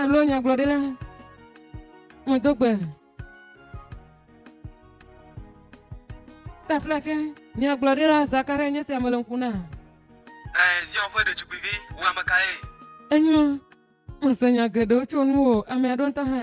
Alo nyagblɔɖila, medo gbe. Taflatse, nyagblɔɖila Zakaria nye sia mele ŋku na. Ɛɛ, Zion ƒe ɖetugbuivi, wò ame kae? Enyo, mese nya geɖewo tso nuwò, ame aɖewo ŋutɔ hã.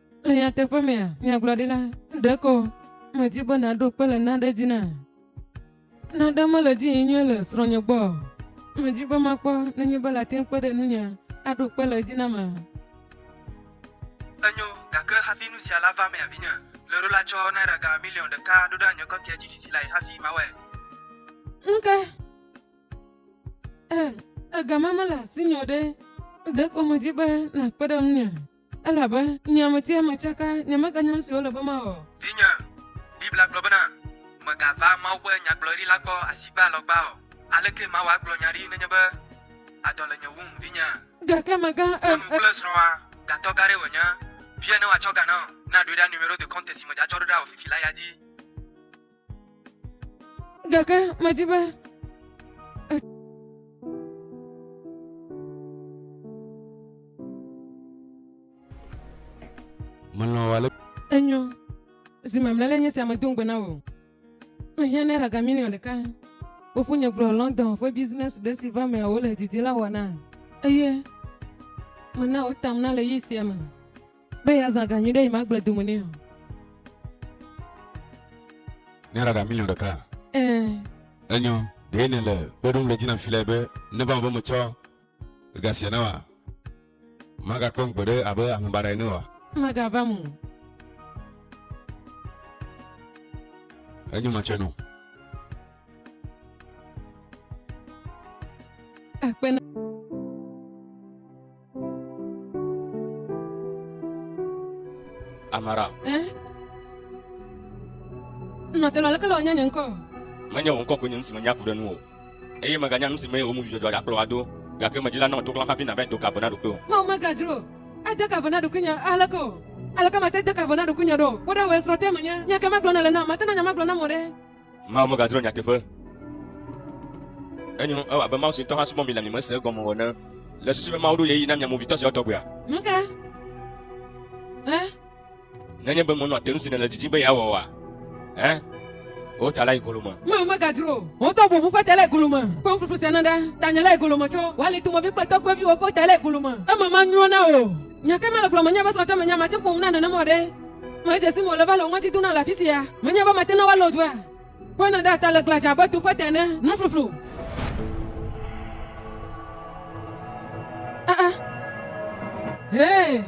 Le nyateƒe mea, nyagblɔɖila, ɖeko medi be nàɖo kpe le naɖe dzi na. Naɖe mele dzi yim nyuie le srɔ̃nye gbɔ o. Medi be makpɔ nenye be late ŋu kpe ɖe nunye aɖo kpe le edzi nama. Enyo, gake hafi nu sia lava emea, vinye, ɣleɖo la tsɔ naira ga miliɔn ɖeka ɖo ɖe nye kɔntia dzi fifi lae hafi mawɔe. Ŋke, e, ega ma mele asinye o ɖe, ɖeko medi be nàkpe ɖe ŋunye. Elabe nye ametiame tsaka, nyemeganya nu si wole be mawɔ. Vinye, Biblia gblɔ bena, Mègava Mawu ƒe nyagblɔɖi la gbɔ asigbe alɔ gbã o. Alekee mawɔ agblɔ nya ɖi nenye be adɔ le nye wum, vinye? Gake mèga e, e. Nyɔnu kple srɔ̃a, gatɔ gã aɖee wònye. Vie ne woatsɔ ga na wò, na ɖoe ɖa numero de compte si me dze atsɔɖoɖoa wò fifi la ya dzi. Gake medi be Menɔ ale. Enyo. Zi mamlɛ le nye sia medo ŋugbe na wò. Mehiã naira ga miliɔn ɖeka. Fofonye gblɔ London ƒe business ɖe si va mea wole didi la wɔna eye mena wotam na le ɣeyiɣi sia me. Be yeazã ga nyuiɖe yi magble dome nɛ o. Naira ga miliɔn ɖeka? Ɛɛ. Enyɔ, ɖee nèle kpe ɖom ɖe dzi nam filɛ be neva eme be metsɔ ga sia na wòa? Magakpɔm gbeɖe abe ame baɖa ene oa? Magava eme o. Enyɔ, matsɔe nɔ. Akpe na. Amara. Eh? Nɔ te lɔleke lɔ nya nye ŋkɔ. Menye wò ŋkɔ ko nye nu si menya ku ɖe ŋu o. Eye meganya nu si mee wò ŋu dzudzɔdzɔ ya kplɔ wò ado. Gake medzi la nɔ to kplam hafi nàvae do ka ve na ɖokuiwò. Mawu megadzro ade ka ve na ɖokuinye aleke o. Aleke mate de ka ve na ɖokuinye ɖo? Kpɔ ɖa wòe srɔ̃tɔe menye. Nya kae magblɔ nèle nam? Mate na nya magblɔ nam wò ɖe? Mawu megadrɔ̃ nyateƒe. Enyo, ewɔ abe Mawu si ŋutɔ hã subɔ mi le mi me se egɔme o ene. Le susu be Mawu ɖo ɣeyiɣi na mia movitɔ siawo tɔgbuia? Mega ɣe. Nenye be mènɔa te nu si nèle didim be yeawɔ oa, ẽ, wò ta la yi golo me. Mawu megadzro o. Wò tɔgbu ŋu ƒe ta le golo me. Kpɔ nuƒuƒu sia na ɖa. Tanye le golo me tso wò alitumovi kple tɔgbuiviwò ƒe ta le golo me. Eme manyrɔ na wò. Nya kae mele gblɔm? Menye be srɔ̃tɔ menye mate ƒo nu na nenem o ɖe. Medze si me wòle va le ŋɔdzi dona le afi sia. Menye be mate na woalɔ dua. Kpɔe nèɖe ata le glã dze abe tuƒe te ene. Nufluflu. Aa! Hee!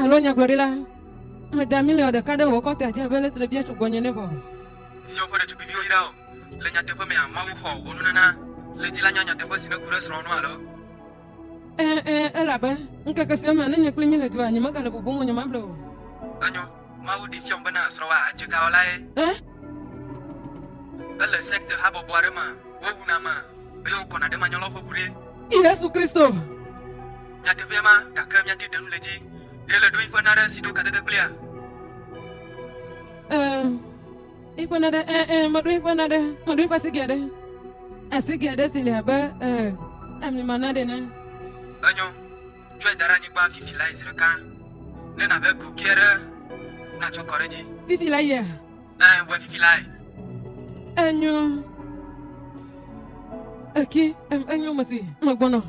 Alo nyagblɔɖila, meda miliɔn ɖeka ɖe wò kɔnte dzi abe ale si nèbia tso gbɔnye ene vɔ. Zion ƒe ɖetugbiviwo yra o. Le nyateƒe mea, Mawu xɔ wò nunana. Le dzi la nya nyateƒe si nèku ɖe srɔ̃wò ŋu alo? Ẽ, ẽ, elabe ŋkeke siwo me nenye kpli mí le dua, nyemegale bubum o nyemable o. Enyo, Mawu ɖee fiam bena srɔ̃wòa adze gawɔlae. Ẽ? Ele sekte habɔbɔ aɖe mea, wowuna ame eye wokɔna ɖe manyɔlɔƒe ŋu ɖe. Yesu Kristo. Nyateƒee ma, gake míate ɖe nu le edzi ɖe le ɖo yi ƒe naɖe si ɖo kadede kplia? Ẽ, yi ƒe naɖe, ẽ, ẽ, meɖo yi ƒe naɖe, meɖo yi ƒe asigɛ ɖe, asigɛ ɖe si le abe, ẽ, ami ma naɖe ene. Enyo. tsɔe da ɖe anyigba fifi lae zi ɖeka. Ne nàve kuki aɖe natsɔ kɔ ɖe edzi. Fifi la yea? Ẽ, wɔe fifi lae. Enyo. Eki, em, enyo, mesi, megbɔnɔ.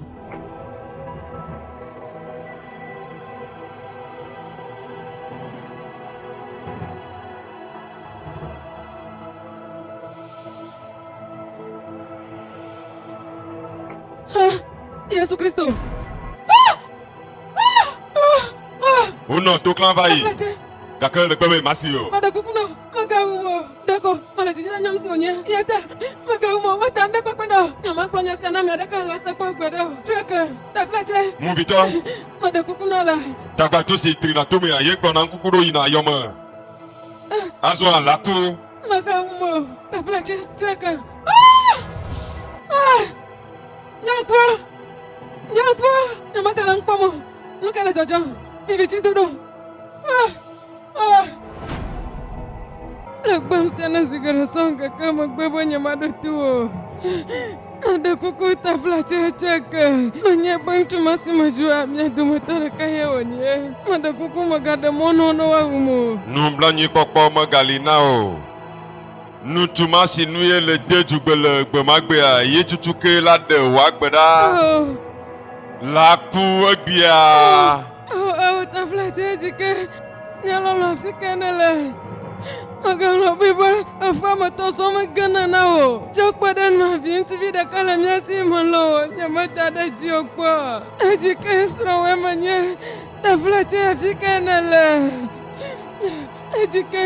Huh? Yesu Kristo. Wonɔ to klã va yi, gake le gbemee masi o. Meɖe kuku nɔ, megawu mo o. Ɖeko mele didi na nya nusi wònyea, eya ta megawu mo o. Meta nu ɖe kpɔkpɔ na wò. Nyemagblɔ nya sia na ame aɖeke le ese kpɔ gbeɖe o. Drake, Taflatse. Movitɔ. Meɖe kuku na la. Tagbato si trina tomea ye kplɔna ŋkuku ɖo yina yɔ me. Azɔa la ko. Megawu mo o. Taflatse, Drake. Nyɔnua, nyɔnua, nyemegale nu kpɔm o. Nu ka le dzɔdzɔm? Vividzidodo. Ah, ah. Le gbem sia ne zi geɖe sɔ ŋkeke megbe be nyemaɖo to o. Aɖe kuku tafla tsetse ke. Menye be ŋutsu ma si medzua mia dometɔ ɖeka ye wònye. Meɖe kuku megaɖe mɔ na wo ne woawum o. Nublanuikpɔkpɔ megali na wò o. Ŋutsu ma si nu ye le de dzugbe le gbemagbea ye tutu ke la ɖe wòagbe ɖa la ku egbea. Ewo ta fla tse dzi ke nye lɔlɔ fi ke ne le. Magalɔ bui be efea me tɔ sɔ me gana na wò. Tsɔ kpe ɖe nua vi ŋutsuvi ɖeka le mía si me lɔ wò nye me da ɖe dzi o kpɔ. Edzi ke srɔ̃ wòe me nye ta fla tse fi ke ne le. Edzi ke.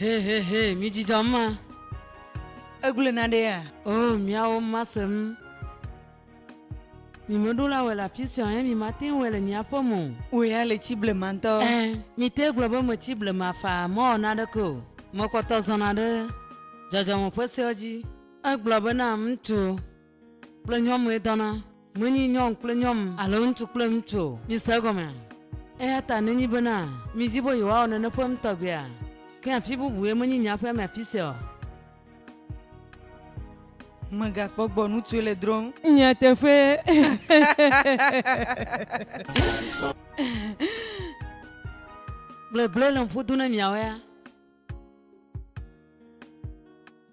Hehehe, midjidzɔ ma. Egble na ɖe ya. O, oh, miawo ma sem. Mi me ɖo la wɔ le afi sia ɛ, mi ma te wɔ le mia ƒe mo. O ya le tsi ble ma ŋutɔ. Ɛ, mi te gblɔ be me tsi ble ma fa, me wɔ na ɖe ke o. Me kpɔtɔ zɔna ɖe dzɔdzɔme ƒe seɔ dzi. Egblɔ be na ŋutsu. Kple nyɔnue dɔna, menyi nyɔn kple nyɔn alo ŋutsu kple ŋutsu o, mise egɔmea? Eyata nenyi bena midi be yewoawɔ nene ƒe ŋutɔgbea, ke afi bubue menyi nye aƒea me afisia o. Megakpɔ gbɔ ŋutsue le drɔm. Nye teƒe. Gblegble le ŋƒu dum ne miawoea?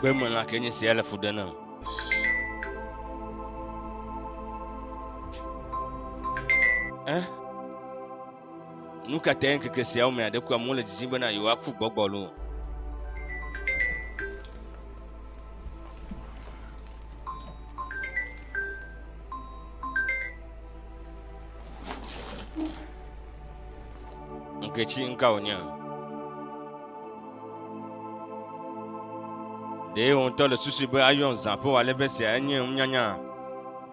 gbemelã ke nye sia le fu ɖe nam eh? Nu ka tae ŋkeke siawo mea ɖekui amewo le didim bena yewoaku gbɔgbɔlo? Ŋketsi ŋka wònye? Ɖe wò ŋutɔ le susu be ayɔ zã ƒe wòale be sia enye nunyanya?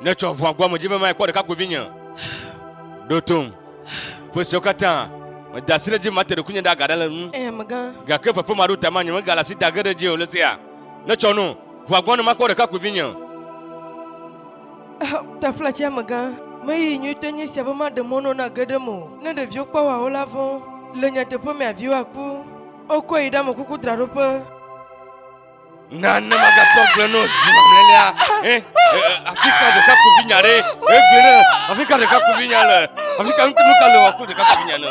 ne tsɔ ʋua gbɔ me dzi be maekpɔ ɖekakpuivi nye ɖo tom ƒe siwo katã meda asi ɖe dzi mate ɖokuinye ɖe aga ɖe le nu eh, gake fefe maɖo tama nye megale asi da ge ɖe dzi o le sia ne tsɔ no ʋua gbɔ ne makpɔ ɖekakpuivi nye Taflatsia megã me ɣeyiɣi nyuitɔe nye esia be maɖe mɔ na wò ne age ɖe eme o. Ne ɖeviwo kpɔ woawo la vɔ̃. Le nyateƒe mea, viwoa ku. Wokɔe yi ɖe amekuku draɖoƒe. Na ne magatɔ agble na wò zi mamlɛlia. Ẽ, afi ka ɖekakpuivinya ɖe? Egblɔe ɖe, afi ka ɖekakpuivinya le? Afi ka nuka le wò aku ɖekakpuivinya ne?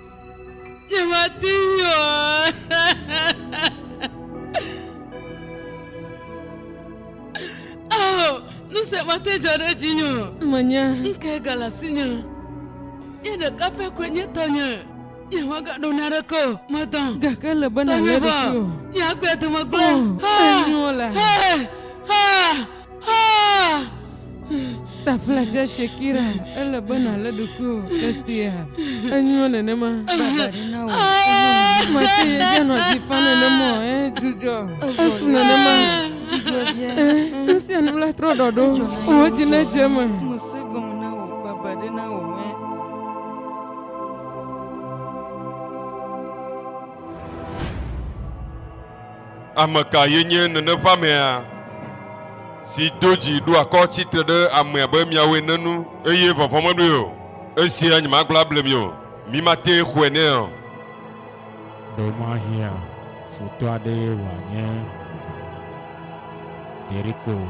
Nyemate ŋui o. Ao, nu se mate dzɔ ɖe dzinye o. Menye. Ŋkee gale asinye. Ye ɖeka pɛ koe nye tɔnye. Nyemagaɖo naneke o. Medɔ. Gake ele be nàlé ɖokuiwò. Nye agbe dome gblẽ. Oh, enyo la. Taflatse Shakira, ele be nàlé ɖokuiwò ɖe sia. Enyo nenema. Mate ye dze nɔ dzi fa nenema o, eh, dzudzɔ. Esu nenema. Eh, nu sia nu la trɔ ɖɔɖo. Wò dzi nedze eme. Ame kae nye neneʋamea si do dzi ɖo akɔ tsi tre ɖe ame abe miawo ene nu, eye vɔvɔ̃ meɖoe o? Esia nyemagblɔ able mi o. Mimate xɔe nɛ o. Ɖe mahiã futɔ aɖee wòanye ɖeriko o.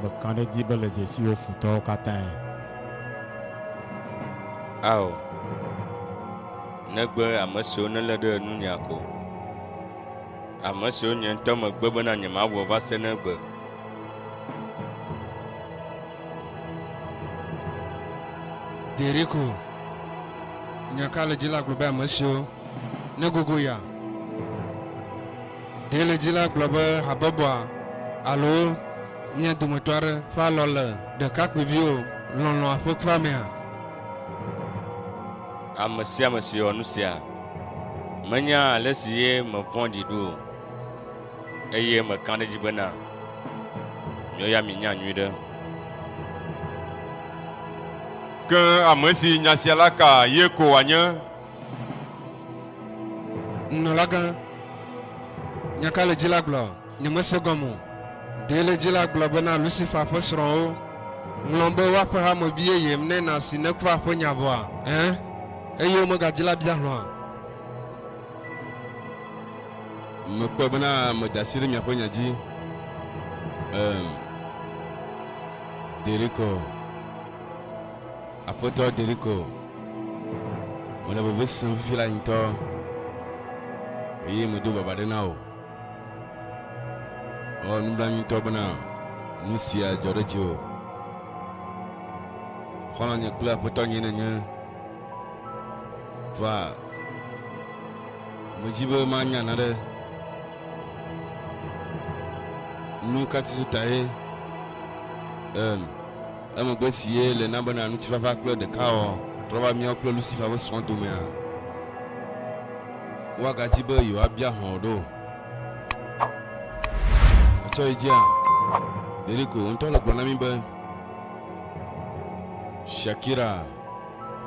Mekã ɖe edzi be le dzesiwò futɔwo katãe. Ao. negbe ame siwo nelé ɖe ŋunye ko, ame siwo nye ŋutɔ megbe bena nyemawɔ va se ne egbe. Deriko, nya ka le dzi la gblɔ be ame siwo negogo ya. Ɖee le dzi la gblɔ be habɔbɔa alo mía dometɔ aɖe ƒe alɔ le ɖekakpuiviwo lɔlɔ̃a ƒe kufea mea? Ame sia ame si wɔ nu sia menya ale si ye mevɔ̃ɖi ɖo o, eye meka ɖe edzi bena, Miwo ya minya nyuiɖe. Ke ame si nya sia la ka, ye ko wòanye. Nunɔlagã, nya ka le dzi la gblɔ? Nyemese egɔme o. Ɖee le dzi la gblɔ be na Lusifa ƒe srɔ̃wo ŋlɔm be woaƒe hame vi yeyem ne nàsi ne kuvaa ƒe nya vɔa? Ẽ, eye womegadzi la bia hlɔ̃a? Mekpɔe bena meda asi ɖe miaƒe nya dzi. Ẽ, deri ko, Aƒetɔ, deri ko. Mele veve sem fifi la ŋutɔ, eye medo baba ɖe na wò. Ewɔ nublanuitɔ bena nu sia dzɔ ɖe dziwò. Xɔlɔ̃nye kple aƒetɔnye nènye. Vɔa medzi be manya naɖe. Nu ka tisu tae? Em. Emegbe si ye le na bena ŋutifafa kple ɖekawɔwɔ trɔ va míawo kple Lusifa ƒe srɔ̃ domea? Woagadi be yewoabia hlɔ̃ wò ɖo? Ètsɔ yi dzia? Ɖeɖeko wò ŋutɔ le gblɔ na mí be, Shakira,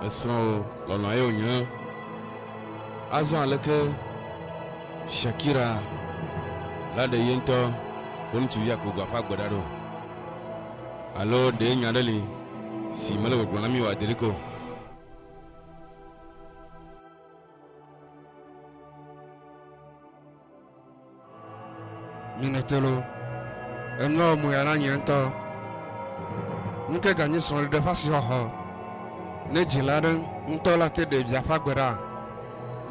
esrɔ̃wò lɔlɔ̃a ye wònye. Azɔ aleke Shakira la ɖe ye ŋutɔ ƒe ŋutsuvia kogoa ƒe agbe ɖa ɖo? Alo ɖe nya aɖe li si mele gbɔgblɔm na mí o adiɖike o? Mine telo. Enua wɔ moya na nye ŋutɔ. Nuke ganyi srɔ̃ɖeɖe ƒe asixɔxɔ ne dzila aɖe ŋutɔ la te ɖe via ƒe agbe ɖa?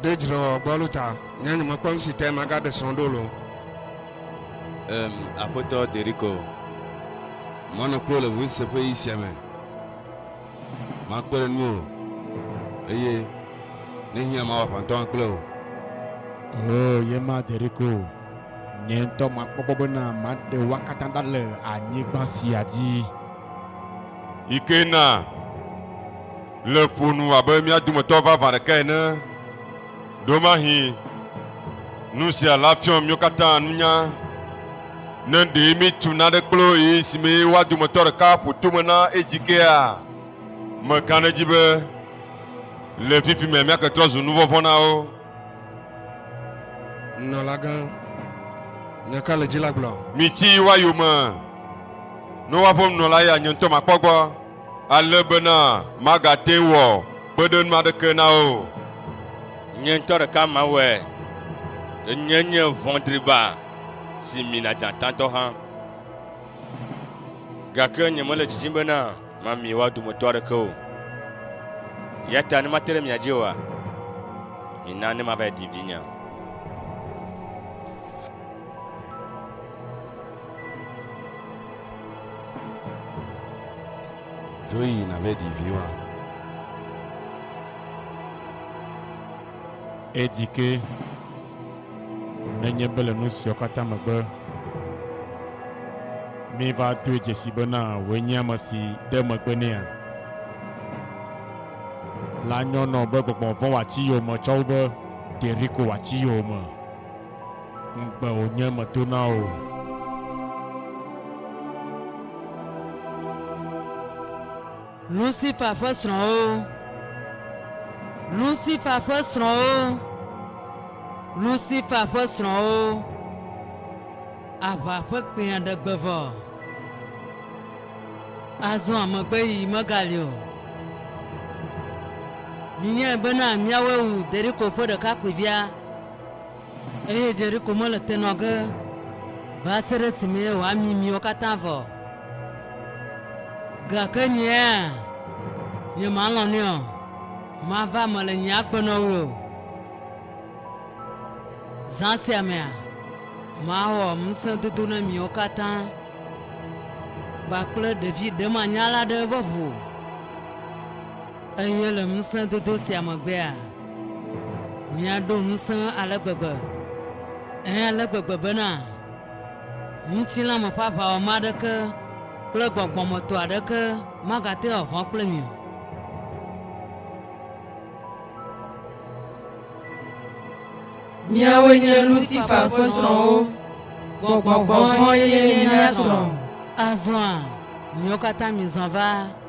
Ɖe dzrewɔwɔ gbɔ alo ta nye nyemekpɔ nusi tae magaɖe srɔ̃ ɖo lo? Em, Aƒetɔ Deriko. Manɔ kple wò le ŋusẽ ƒe ɣi sia me. Makpe ɖe nuwò, eye ne hiã mawɔ aʋatɔ hã kple wò. Oo, ye ma, Deriko. Nye ŋutɔ makpɔ gbɔ bena maɖe woa katã ɖa le anyigba sia dzi. Ikena, le ƒo nu abe mía dometɔ vavã ɖeka ene, Ɖewomahĩ nu sia la fiɔ míwo katã nunya, ne ɖee míetu naɖe kplo ɣi si mee woa dometɔ ɖeka ƒo tome na edzikea. Meka ɖe edzi be le fifi mea míake trɔ zu nuvɔvɔ̃ na wo. Nunɔlagã, nya ka le dzi la gblɔ? Mitsi yi woayome, ne woaƒe nunɔla ya nye ŋutɔ makpɔ gbɔ. Ale bena magate ŋu wɔ kpeɖeŋu aɖeke na wo o. Nye ŋutɔ ɖeka mawɔe. Enyee nye vɔ̃driba si mina dzatãtɔ hã. Gake nyemele didim bena mami woa dometɔ aɖeke o. Eya ta ne mate ɖe mia dzi oa, mina ne mavae ɖi vinye. Dzo yi nave ɖi vi wa. Edi ke nenye be le nu siawo katã megbe, míva doe dzesi bena wòe nye ame si de megbe nɛa? La nyɔnɔ be gbɔgbɔ vɔ̃ wòatsi yowòme tsɔ wu be ɖeɖi ko wòatsi yowòme Ŋugbe wònye medo na wò. Lusifa ƒe srɔ̃wo. Lusifa ƒe srɔ̃wo. Lusifa ƒe srɔ̃wo. Aʋa ƒe kpẽa ɖe gbe vɔ. Azɔa megbe yi megali o. Minyae bena míawoe wu Deriko ƒe ɖekakpuivia. Eye Jeriko mele te nɔ ge va se ɖe esime wòami miwo katã vɔ o. Gake nyea, nyemalɔ̃ nɛ o, mava eme le nye agbe nɔ wui o. Zã sia mea, mawɔ ŋusẽdodo na miwo katã kpakple ɖevi ɖemanyala aɖe ƒe ʋu. Eye le ŋusẽdodo sia megbea, míaɖo ŋusẽ ale gbegbe, ɛ̃, ale gbegbe bena ŋutilã me ƒe aʋawɔmã aɖeke kple gbɔgbɔ me tɔ aɖeke magate ŋu aʋã kple mi o. Míawoe nye Lusifa ƒe srɔ̃wo, gbɔgbɔ vɔ̃ ye nye mía srɔ̃. Azɔa, miwo katã mizɔ va.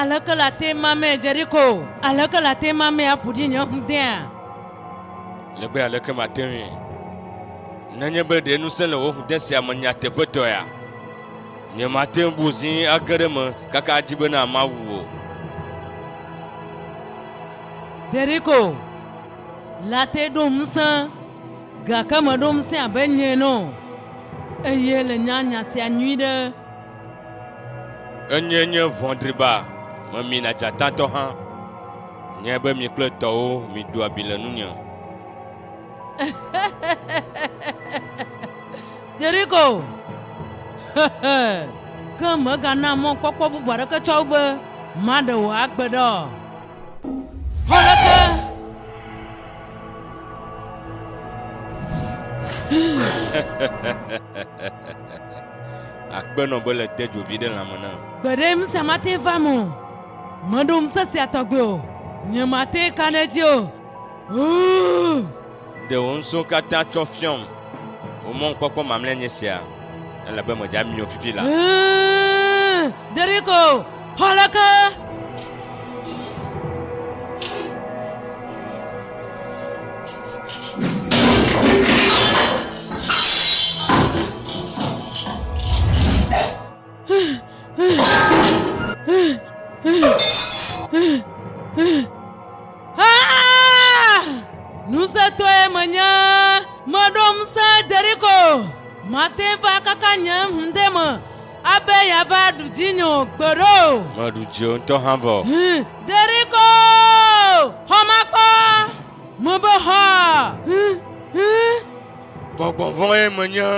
Aleke le ate ma me Jeriko? Aleke le ate ma me aƒu ɖi nye ŋudea? Le be aleke mate ŋui? Nenye be ɖe ŋusẽ le wò ŋude sia me nyateƒetɔea, nyemate ŋu bu zi age ɖe me kaka adzi bena mawu o. Jeriko le ate ɖom ŋusẽ. Gake meɖo ŋusẽ abe nye ene o, eye le nya nya sia nyuiɖe. Enyee nye vɔ̃driba, memina dzatatɔ hã. Nyae be mi kple tɔwo mido abi le nunye. Yeriko, hehe, ke mègana mɔkpɔkpɔ bubu aɖeke tsɔ be maɖe wò agbe ɖa o. Akpenɔ be le de dzovi ɖe lãme na. Gbeɖe ŋusẽ mate va mo. Meɖo ŋusẽ sia tɔgbe o. Nye mate ka ɖe edzi o. Ʋuu. Ɖe wò ŋusẽwo katã tsɔ fiɔm. Wò mɔnukpɔkpɔ mamlɛa nye sia, elabe medze ami o fifi la. Ʋãa, Jeriko xɔ le ke! Ŋusẽtɔe menye, meɖo ŋusẽ Yeriko, mate ŋu akaka nye hũde me abe yeava ɖu dzinye o, gbeɖe o. Meɖu dziwò ŋutɔ hã vɔ. Yeriko, xɔ makpɔ, mebe xɔa. Gbɔgbɔ vɔ̃e menye.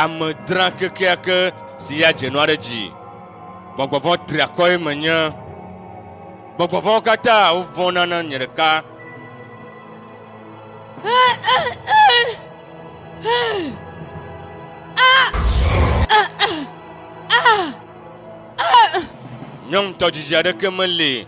Ame dra kekeake si ya dze nua ɖe dzi. Gbɔgbɔ vɔ̃ triakɔe menye. Gbɔgbɔ vɔ̃wo katã wovɔ̃na na nye ɖeka. Nyɔŋutɔ dzidzi aɖeke meli.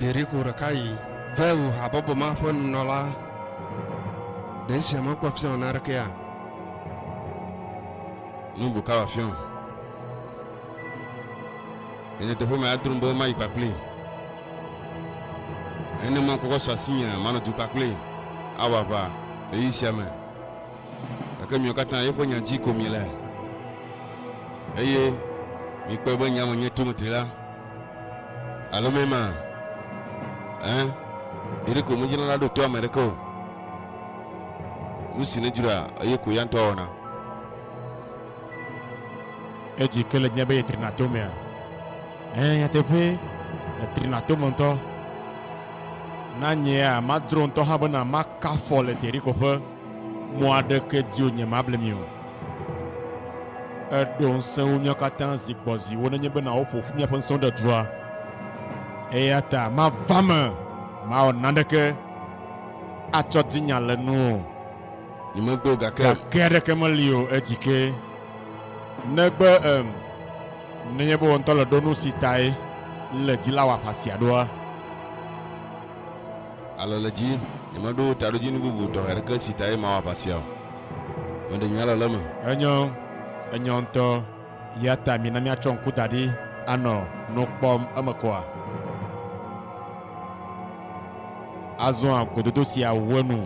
Ɖeɖeko ɖeka yi Veo habɔbɔ ma ƒe nunɔla ɖe esia mekpɔ fiɔ naɖekea? Nu buka wòafiɔ? Le nyateƒe me, adrɔ̃m be mayi kpakplii. Nenema ŋkɔkɔ su asinyea, manɔ du kpakplii awɔ aʋa ɣeyiɣi sia me. Gake miwo katã yeƒe nya dzi ko miele, eye mikpɔe be nya menye tometri la alo mɛ ma. Ẽ, ɖeɖe ko nudzrala ɖo to ame ɖeke o. Nu si nedzroa eye ko ya ŋutɔ wɔna. Edzi ke le dzinye be yetrina to mea? Ẽ, nyateƒee, etrina to me ŋutɔ. Na nyea, madzro ŋutɔ hã bena maka afɔ le teɖi ko ƒe. Mɔ aɖeke dzi o nyemable mi o. Eɖo ŋusẽ wo nuiwo katã zi gbɔ zi wo nenye be nawo ƒo ƒu miaƒe ŋusẽwo ɖe dua. Eya ta mava eme mawɔ naneke atsɔ di nya le nu o. Nyemegbe o gake. Gake aɖeke meli o edzi ke negbe em nenye be wò ŋutɔ le ɖo nu si tae le di la wɔ aʋa sia ɖoa. Alele dzi, nyemeɖo taɖodzinu bubu tɔxɛ aɖeke si tae mawɔ aʋa sia o. Meɖe nye alele me. Enyɔ, enyɔ ŋutɔ. Eya ta mina míatsɔ ŋku da ɖi anɔ nu kpɔm emekɔa. Azɔa gododo siawo nu.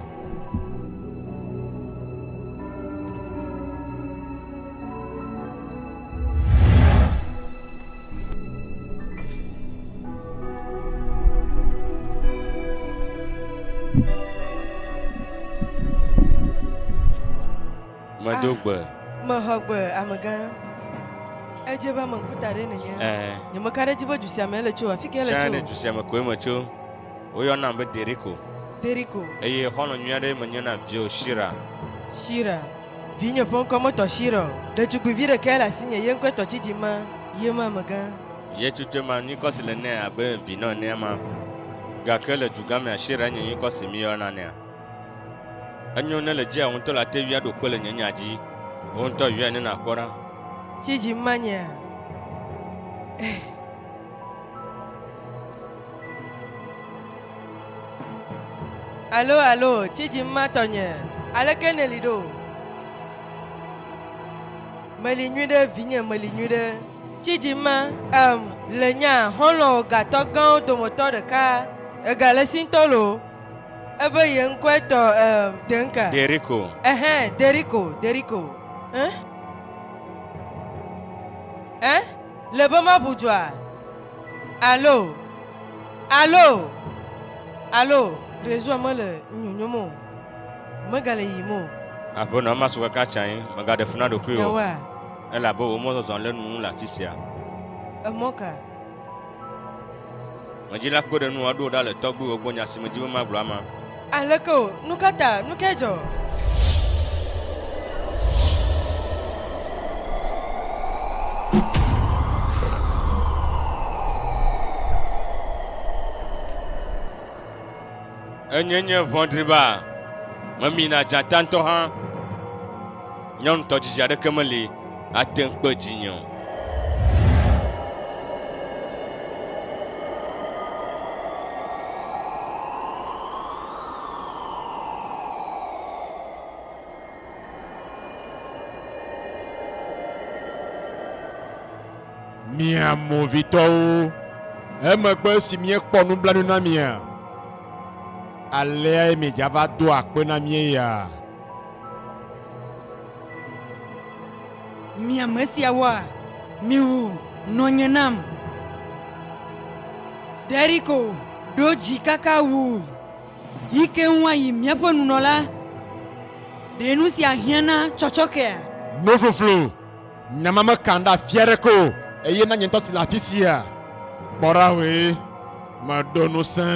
Medo ah, gbe. Mexɔ gbe amegã. Edze be ame ŋkuta ɖe nenye. Eh. Nyemeka ɖe edzi be du sia me ele tso afi ke ele tso. Tsã ɖe du sia me koe me tso. Woyɔnam be Deriko. Deriko. Eye xɔlɔ̃ nyui aɖe menye na viwo Shira. Shira. Vinye ƒe ŋkɔ metɔ Shira o. Ɖetugbuivi ɖekae le asinye, ye ŋkɔe tɔ Tsidzima, ye ma amegã. Ye tsotsoe ma, nyikɔ si le nɛ abe vinɔ enea ma. Gake le dugã mea, Shira nye nyikɔ si míyɔna nɛa. Enyo ne le dzia wò ŋutɔ la ate ŋui aɖo kpe le nye nya dzi. Wò ŋutɔ yɔe ne nàkpɔ ɖa. Tsidzima nyea? Eh. Alo, alo, tsi dzim ma tɔnye, aleke nèli ɖo? Meli nyuiɖe, vinye, meli nyuiɖe, tsi dzim ma. Em, le nya xɔlɔ̃wò gatɔ gãwo dometɔ ɖeka, egale si ŋutɔ loo, ebe ye ŋkɔe tɔ, em, teŋka. Deriko. Ɛhɛ, Deriko, Deriko. Ẽ? Ẽ? Le be maʋu dua? Alo, alo, alo, Trésor mele nu nyonyom o, megale yiyim o. Aƒenɔ, masu kaka tsã ye, mègaɖe fu na ɖokuiwò o. Nyawoa? Elabe wò mɔzɔzɔ lé nu ŋu le afi sia. Emɔ ka? Medi la kpɔe ɖe nu wòaɖo wò ɖa le tɔgbuiwò gbɔ nya si medi be magblɔ ama. Aleke o, nu ka ta? Nu kae dzɔ? Enye nye vɔ̃dri ba, memina dzata ŋutɔ hã. Nye ŋutɔ dzidzi aɖeke meli ate ŋu kpe dzinye o. mia movitɔwo. Emegbe esi míekpɔ nublanui na mia, aleae miedzava doa akpe na míeya. Mi ame siawoa, miwu nɔnye nam. Ɖeriko ɖo dzi kaka wu yi ke ŋu ayi míaƒe nunɔla. Ɖe nu sia hiã na tsɔtsɔkea? Nofloflo. Nya ma mekam ɖe afi aɖeke o, eye na nye ŋutɔ si le afi sia. Kpɔ ɖa hoe meɖo ŋusẽ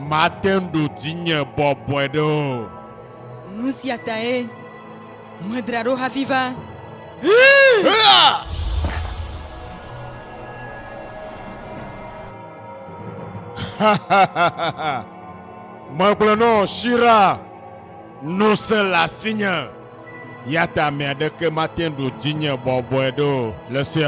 mate ŋu ɖo dzinye bɔbɔe ɖe o. Nu sia tae medra ɖo hafi va. Hee! Megblɔ nɔ Shira, Ŋusẽ le asinye. Eya ta ame aɖeke mate ŋu ɖo dzinye bɔbɔe ɖo le esia.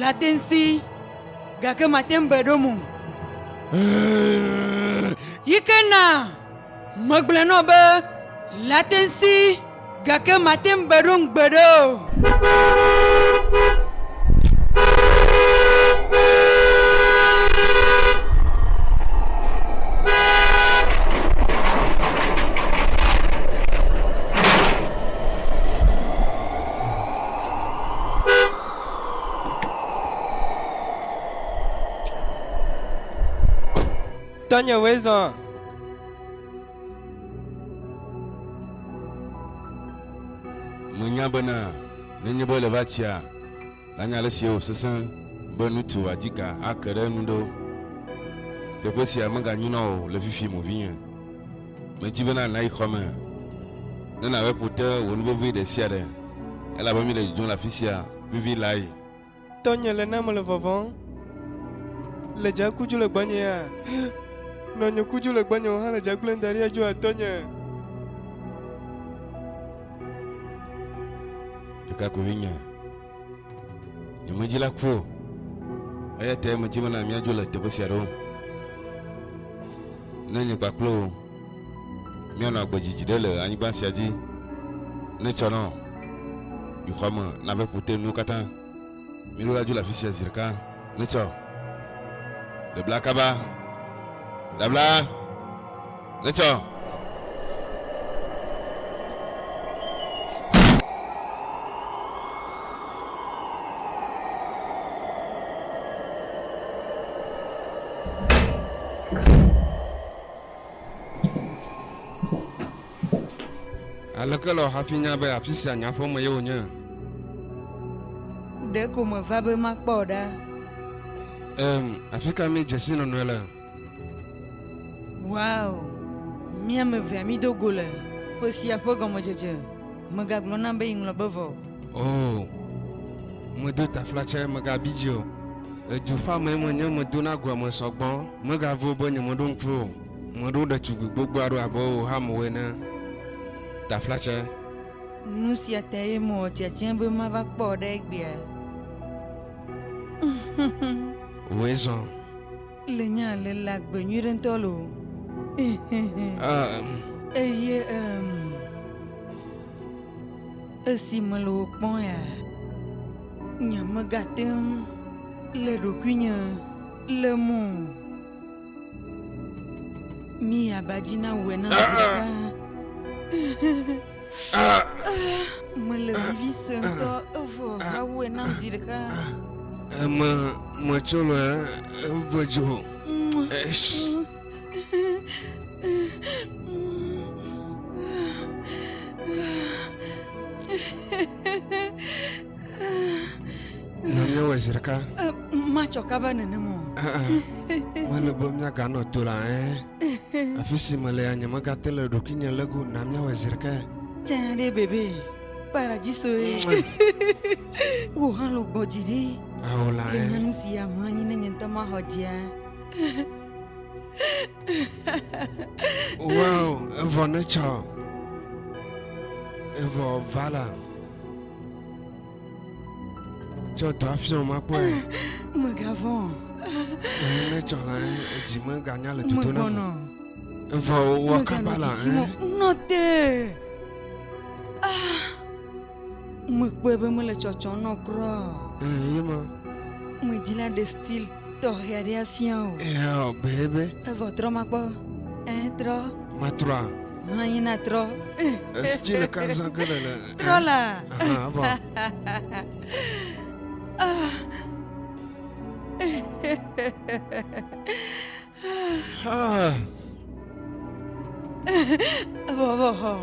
Latinsi, gake mate ŋu be ɖo mo. Yi ke na megblɔe nɔ be Latinsi, gake mate ŋu be ɖo ŋugbe ɖe o. Tɔnyewoe zɔ. Menya bena nenye be ele va tsia, lanye ale si wòsesẽ be nutu wòadika ake ɖe enu ɖe o. Teƒe sia meganyo na wò le fifim o, vinye. Medi bena nàyi xɔ me ne nàwɔe ƒo te wò nu vevi ɖe sia ɖe, elabe míele dzodzom le afi sia vivi lae. Tɔnye le nam le vɔvɔ̃m. Le dze ku dzu le gbɔnye ya? Nɔnye ku dzu le gbɔnye wò hã le dze gblẽm da ɖi ya dzoa tɔnye? Ɖekakpuivinye. Nye medzi la ku o. Eya ta medzi mena míadzo le teƒe sia ɖo. Ne nye kpakple wò míanɔ agbe dzidzi ɖe le anyigba sia dzi, ne tsɔ nɔ yi xɔa me na ƒe ƒote nuwo katã, mí ɖo la dzo le afi sia zi ɖeka. Ne tsɔ. Ɖebla kaba. Ɖabla. Etsɔ. Aleke lɔ hafi nya be afi sia nyaƒe me ye wònye? Ɖeko meva be makpɔ ɖa. Em, afi ka míedzesi nɔnɔe le? Wow! Mía ame evea mído go le ƒe sia ƒe gɔmedzedze. Megagblɔ nam be yeŋlɔ be vɔ. Oo, medo taflatsae megabi dzi o. Edu ƒe amee menye, medona goa me sɔgbɔ. Megavo be nyemeɖo ŋku o. Meɖo ɖetugbui gbogbo aɖewo abe wò hamewo ene. Taflatsae. Nu sia tae mewɔ tiatia be mava kpɔ wò ɖe egbea. Wòe zɔ. Le nya le la gbe nyui ɖe ŋutɔ lo. Um, Eye em, esi mele wò kpɔm ya, nyemegate ŋu le ɖokuinye le mo. Mi aba dzi na wòe na Ah, ah. ʋuʋuʋu. Mele vivi sem ŋutɔ evɔ woawɔe nam zi ɖeka. Eme metsɔ le eve dzo. Na míawɔe zi ɖeka. Matsɔ kaba nenem o. Mele be míaganɔ to la ɛ. Afi si melea, nyemegate le ɖokuinye lé go o. Na míawɔe zi ɖeka ya. Tsã ɖe bebe kpara dzi sɔe. Wò hã lo gbɔ dzi ɖi. Ao la Enye ɛ. nu si aʋã anyi ne nye ŋutɔ maxɔ dzia. Wow, evɔ netsɔ. Evɔ vala. Tsɔ dɔa fiɔm akpɔe. Mègavɔ̃. Ne tsɔ la, edzi meganya le dodo na mo. Evɔ wɔ kaba la. Nɔ te. Ah, mekpɔe be mele tsɔtsɔ nɔ kura. Ee, ye ma. Medzi la ɖe stil. tɔxɛ aɖe afia o. Ehã be be. Evɔ trɔ ma kpɔ. Ẽ trɔ. Ma trɔa. Hã yi na trɔ. Esti le ka zã ke le le. Trɔ la. Hã vɔ. Ah. Vovovoo.